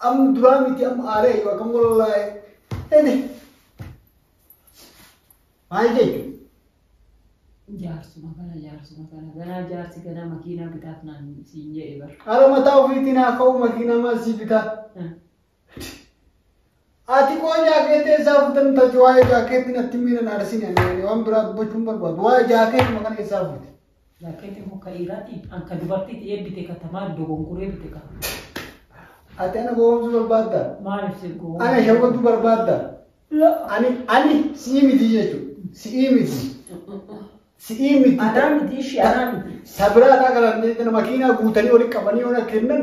Am duraa miti am aaree yoo akkam wallahi. Ede. Maal jechuun? Jaarsuma kana jaarsuma kana ganaa jaarsi ganaa makiinaa bitaaf naan siin jedhe bar. Ala mataa ofiitiin haa ka'u makiinaa maal sii bitaa? Ati koo jaakeetti eessaa fuute nuti ati waa'ee jaakeetti natti miidhan arsine ani waan biraa dubbachuun barbaadu waa'ee jaakeetti maqaan eessaa fuute. Jaakkeetti muka dhiiraatti an ka dubartiitti eebbite ka tamaa dogongoree bite ka. Ati ana gowwoomsuu barbaadda? Maaliif si gowwoomsuu? Ana shawwaduu barbaadda? Ani ani si'ii miti jechuudha. Si'ii miti. Si'ii miti. Anaa miti ishii anaa miti. Sabiraa isaa kana makiinaa guutanii walitti qabanii yoo na kennan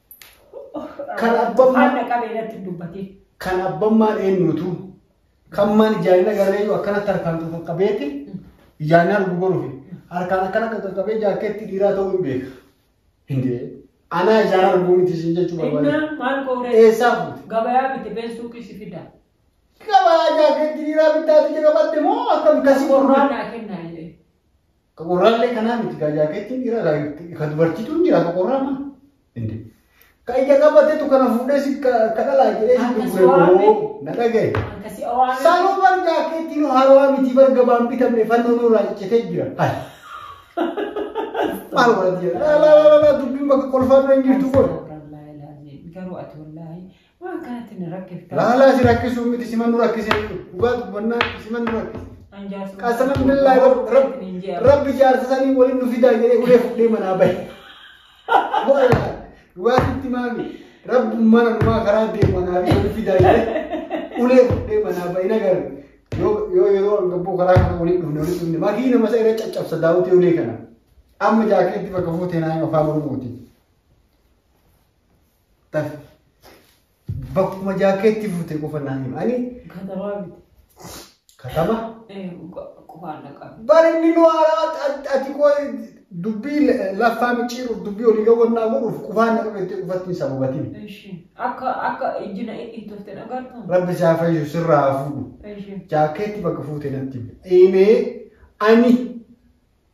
Kan abbaan Waan dhaqabe irratti hin dubbatin. kan abbammaan eenyutu kan maan ijaarina garreeyyuu akkanatti harkaan qaqqabeeti ijaarina arguu godhuufi harkaan akkana qaqqabee jaarkeetti dhiiraa ta'uu hin beeka. Hindee anaa ijaara arguu miti isin jechuu barbaade. Innaa maal kooree Eessaa fuute? gabayaa miti beessuu kisi fida. Gabaa jaarkeetti dhiiraa bittaatti jedhabatte moo akkam kasi Qorraa naa kennaa jedhee. Ka qorraallee kanaa miti ka jaakeettiin dhiiraa ka- ka dubartiitu hin jira ka qorraa maa? Inde. Ka ija qabatetu kana fuudhee si ka ka dhalaa jedhee si Akka si gurgure waame. boo na dhagaye. Akka si awaame. Sanuu bar jaakeettiin haarawaa miti bar gabaan bitamne fannoon irraa ciccitee jira. Hai. Maal godhati jedha. Laa laa laa laa dubbiin bakka kolfaa bira hin jirtu kun. Garuu ati wallaahi Waa akkanatti na rakkifta. Laalaa si rakkisuu miti sima nu rakkisee jiru. Dhugaa dubbannaa sima nu rakkise. An jaarsa. Qasama billaa rabbi jaarsa sanii waliin nu fidaa jedhee ulee fudhee manaa bahe. Dhugaa sitti maami rabbi mana numaa karaa deemu manaa fi waliin fidaa jedhee ulee fudhee manaa bahe na garu. Yoo yoo yeroo gabboo karaa kana waliin dhufne waliin dhufne makii nama isa irra caccabsa daawwitee ulee kana. Amma jaakeetti bakka fuutee naa afaan oromooti. Taf. Bakkuma jaakeetti fuute qofa naa hima. Ani Katabaa biti. katama. Eh, qofaan dhaqaa. Barinni nu haaraa ati- ati koo dubbii la- laffaa micciiruuf dubbii olii gawwannaa godhuuf qufaan na qabeetti qufattiin sababatiin. Ishi. Akka akka ijji na itti tofte dhagartu. Rabbi isaa fayyisu sirraa haa fuudhu. Ishi. Jaakeetti bakka fuute natti hime. Deemee ani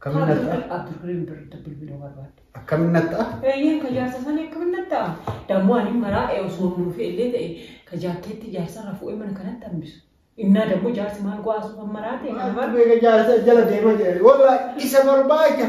Akkamiin natti ta'a? Abdurrahim birritti bilbiluu barbaadde. Akkamiin natti ta'a? Eeyyeen ka jaarsa sanii akkamiin natti ta'a? Dammoo ani maraa ee osoo hin nuufee illee ta'e ka jaakkeetti jaarsa irraa fuudhee mana kanatti hambisu. Innaa dammoo jaarsi maal go'aa suufa maraa ta'e kana Maal bara. beeka jaarsa jala deema jira. Walla isa barbaacha.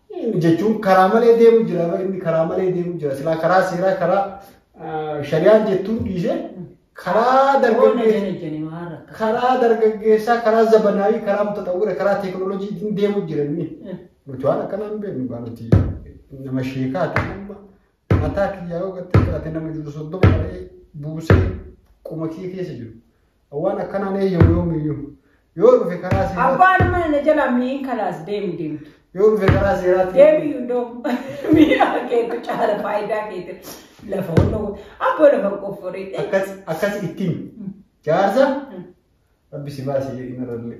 jechuun karaa malee deemu jira bar inni karaa malee deemu jira silaa karaa seeraa karaa ah, shari'aan jettuun dhiise karaa dargaggeessaa karaa dargaggeessaa karaa zabanaayii karaa mutaxawwira karaa teekinooloojii hin deemu jira inni nuti waan akkanaa hin beeknu gaa nuti nama sheekaa ta'e amma mataa kiyyaa yoo gattee fudhate nama jiru soddoma ta'ee buusee qoma kiyya keessa jiru. Waan akkanaan eeyyamu yoomiyyuu. Yoo dhufe karaa seeraa Abbaan mana na jalaa miin kalaas deemu deemtu. yoo dhufe karaa seeraatti Deemi hundoo miidhaa keetu caala faayidaa keetu lafa hundoo abboo lafa qofforii. akkas akkas ittiin jaarsa rabbi si baasee inni irrallee.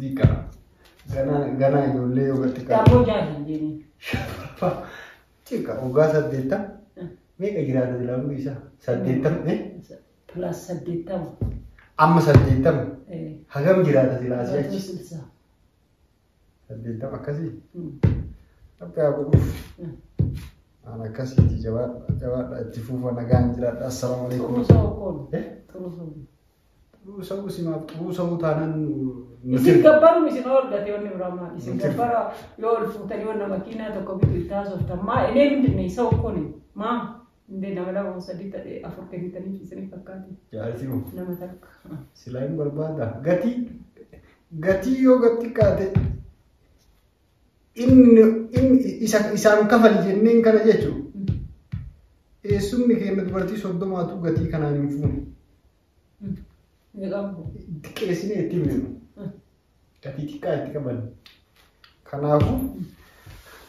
Dika. Gana gana ijoollee yoo gatti kaa. Daaboo jaadii deemee. Shaffa. Cika ogaa saddeetta. Meeqa jiraata jilaa guddi isaa? Saddeettama. eh? Pilaas saddeettama. Amma saddeettama. Eh, Hagam jiraata jilaa asii Pilaas achi? sitsa. Saddeettama akkasii. Mm. Akka yaa godhuuf. Mm. Aan akkasiiti jabaadha jabaadha itti fuufa nagaan jiraadha. Assalaamu alaikum. Xurusoo koon. Eh? Xurusoo. Xuruu sa'uu isin maaf xuruu sa'uu taanaan Isin gabbaruun isin hoorgate wanni biraa maal isin gabbara yoo ol fuutanii wanna makiinaa tokko bitu itti haasoftan maa inee mindinne isa ukkuni maa indee nama lama sadii ta'e afur kennitanii isiniif fakkaate jaartii hoo nama takka. silaa hin barbaada gatii gatii yoo gad xiqqaate isaan kafali jenneen kana jechuun eessumni keenya dubartii soddomaatu gatii kanaan hin fuune. Xiqqeessinee itti himne gatii xiqqaa itti qaban. Kanaafuu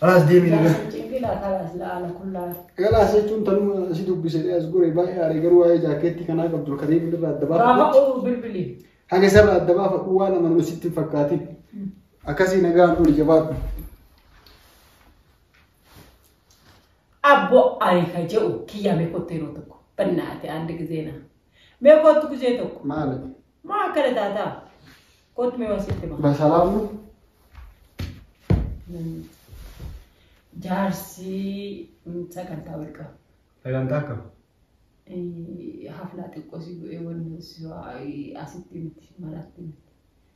alaas deemee Galaas jechuun tanuma si dubbisee as gore baay'ee aaree garuu waa'ee jaakeettii kanaa qabdu kan deebiin irraa adda baafatu. Haga isarraa adda baafadhu waan amanama sitti hin fakkaatin. Akkasii nagaan oli jabaadhu. Abbo ariifa jedhu kiyyaa mee kottu yeroo tokko. Bannaate andi gizee naa. Mee kottu gizee tokko. Maali? Maa akkana taataa? Kottu mee wasitti maa. Basalaam nu? Jaarsi mm, sagantaa wal qabu. Sagantaa akkam? Eh, Haflaa xiqqoo si bu'ee wanni si waa- asitti miti maraatti miti.